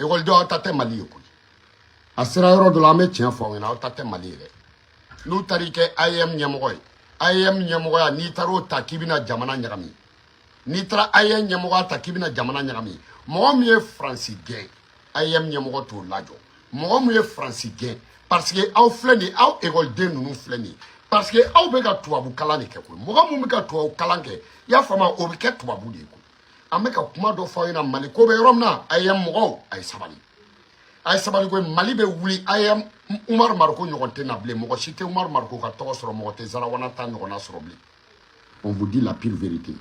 ekɔlidenw aw ta tɛ mali ye koyi a sera yɔrɔ dɔ la an bɛ tiɲɛ fɔ aw ɲɛna aw ta tɛ mali ye dɛ n'u taara i kɛ AEEM ɲɛmɔgɔ ye AEEM ɲɛmɔgɔya n'i taara o ta k'i bɛna jamana ɲagami n'i taara AEEM ɲɛmɔgɔya ta k'i bɛna jamana ɲagami mɔgɔ min ye faransi gɛn AEEM ɲɛmɔgɔ t'o lajɔ mɔgɔ min ye faransi gɛn parce que aw filɛ nin ye aw ekɔliden ninnu filɛ nin ye parce que aw bɛ ka tubabu kalan de kɛ koyi mɔgɔ min bɛ ka tubabu kalan kɛ i y'a faamu o bɛ kɛ tubabu de ye koyi an bɛ ka kuma dɔ fɔ aw ɲɛna mali ko bɛ yɔrɔ min na AEEM mɔgɔw a ye sabali a ye sabali ko mali bɛ wuli AEEM umaru mariko ɲɔgɔn tɛ na bilen mɔgɔ si tɛ umaru mariko ka tɔgɔ sɔrɔ mɔgɔ tɛ zarawana ta ɲɔgɔnna sɔrɔ bilen on vous dit la pure vérité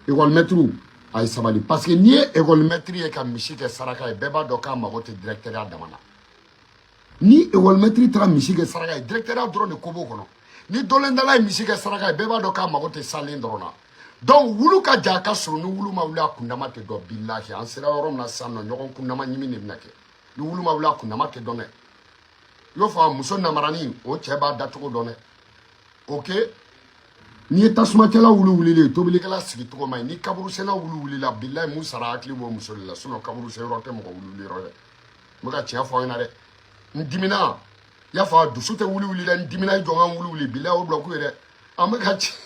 ekɔlimɛtiriw a ye sabali parce que n'i ye ekɔlimɛtiri ye ka misi kɛ saraka ye bɛɛ b'a dɔn k'a mago tɛ direkitɛriya dama na ni ekɔlimɛtiri taara misi kɛ saraka ye direkitɛriya dɔrɔn de ko b'o kɔnɔ ni dɔlɛndala ye misi kɛ saraka ye bɛɛ b'a dɔn k'a mago tɛ salen dɔrɔn na donc wulu ka jan ka surun ni wulu ma wuli a kundama tɛ dɔn bilahi an sera yɔrɔ min na sisan nɔ ɲɔgɔn kundama ɲimi de bɛna kɛ ni wulu ma wuli a kundama tɛ dɔn dɛ i y'o fɔ muso namarani o cɛ b'a dacogo dɔn dɛ ok n'i ye tasumakɛla wulu wulilen ye tobilikɛla sigi cogo man ɲi ni kaburusenna wulu wulila bilahi mun sara a hakili b'o muso de la sinon kaburusenyɔrɔ tɛ mɔgɔ wulu wuliyɔrɔ dɛ n bɛ ka tiɲɛ fɔ aw ɲɛna dɛ n dimina y'a fɔ dusu tɛ wulu wuli dɛ n dimina i jɔ ka n wulu wuli bilahi o bulɔku ye dɛ an bɛ ka tiɲɛ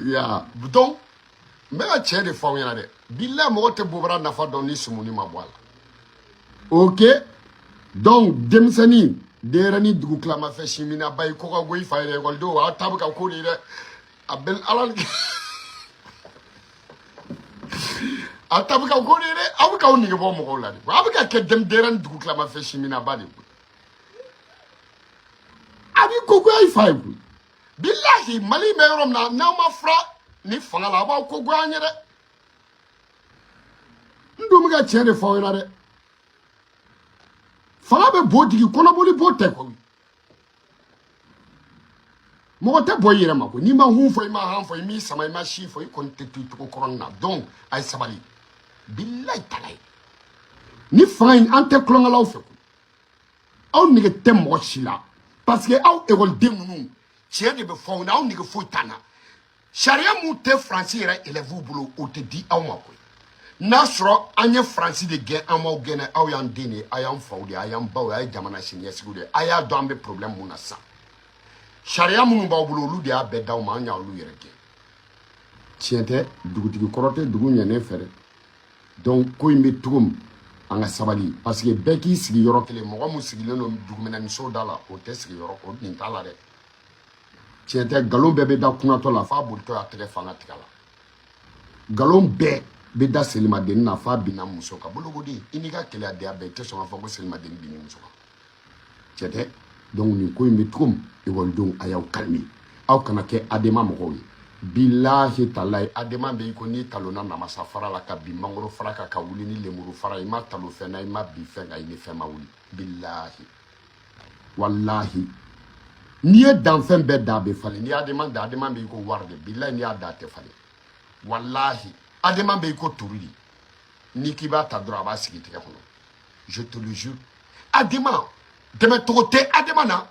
ya donc n bɛ ka tiɲɛ de fɔ aw ɲɛna dɛ bilahi mɔgɔ tɛ bobara nafa dɔn ni sumuni ma bɔ a la ok donc denmisɛnnin denyɛrɛni dugu tilamafɛ siminaba i ko ka go i fa ye dɛ ekɔlidenw aw ta bɛ ka k'o de ye dɛ a bɛ ala a ta bɛ ka k'o de ye dɛ aw bɛ k'aw nege bɔ mɔgɔw la de aw bɛ ka kɛ denyɛrɛni dugu tilamafɛ siminaba de ye a b'i ko goya i fa ye koyi bilahi mali bɛ yɔrɔ min na n'aw ma fara ni fanga la a b'aw ko goya an ye dɛ n dun bɛ ka tiɲɛ de fɔ aw ɲɛna dɛ fanga bɛ bo digi kɔnɔboli bo tɛ koyi mɔgɔ tɛ bɔ i yɛrɛ ma koyi n'i ma hun fɔ i ma han fɔ i m'i sama i ma si fɔ i kɔni tɛ to i cogo kɔrɔ nin na donc a ye sabali bilayi talayi ni fanga in an tɛ tulonkɛlaw fɛ aw nege tɛ mɔgɔ si la parce que aw ekɔliden ninnu tiɲɛ de bɛ fɔ aw na aw nege foyi t'an na sariya mun tɛ faransi yɛrɛ elɛvuw bolo o tɛ di aw ma koyi n'a sɔrɔ an ye faransi de gɛn an m'aw gɛn dɛ aw y'an den de ye a y'an faw de ye a y'an baw ye a ye jamana siniɲɛsigiw de ye a y'a dɔn an bɛ problème mun na sisan sariya minnu b'aw bolo olu de y'a bɛɛ d'aw ma an y'olu yɛrɛ gɛn tiɲɛ tɛ dugutigi kɔrɔ tɛ dugu ɲɛnen fɛ dɛ donc ko in bɛ cogo min an ka sabali parce que bɛɛ k'i sigi yɔrɔ kelen mɔgɔ min sigilen don duguminɛniso da la o tɛ sigi yɔrɔ o nin t'a la dɛ tiɲɛ tɛ nkalon bɛɛ bɛ da kunatɔ la f'a bolitɔ y'a tɛgɛ fa n ka tigɛ la nkalon bɛɛ bɛ da selimadennin na f'a binna muso kan bolokoden i n'i ka keleyadenya bɛɛ i tɛ sɔn k'a fɔ ko selimadennin binna muso kan tiɲɛ tɛ donc nin ko in bɛ cogo min ekɔlidenw a y'aw kalime aw kana kɛ adema mɔgɔw ye bilahi talahi adema bɛ i ko n'i talonna namasa fara la ka bin mangoro fara kan ka wuli ni lemuru fara i ma talon fɛn na i ma bin fɛn kan i ni fɛn ma wuli bilahi walahi n'i ye danfɛn bɛɛ da a bɛ falen n'i ye adema da adema bɛ i ko wari de bilahi n'i y'a da a tɛ falen walahi adema bɛ i ko turu de n'i k'i b'a ta dɔrɔn a b'a sigi i tɛgɛ kɔnɔ je te le jure adema dɛmɛcogo tɛ adema na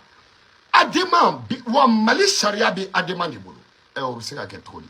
adema wa mali sariya bɛ adema de bolo ɛ o bɛ se ka kɛ cogo di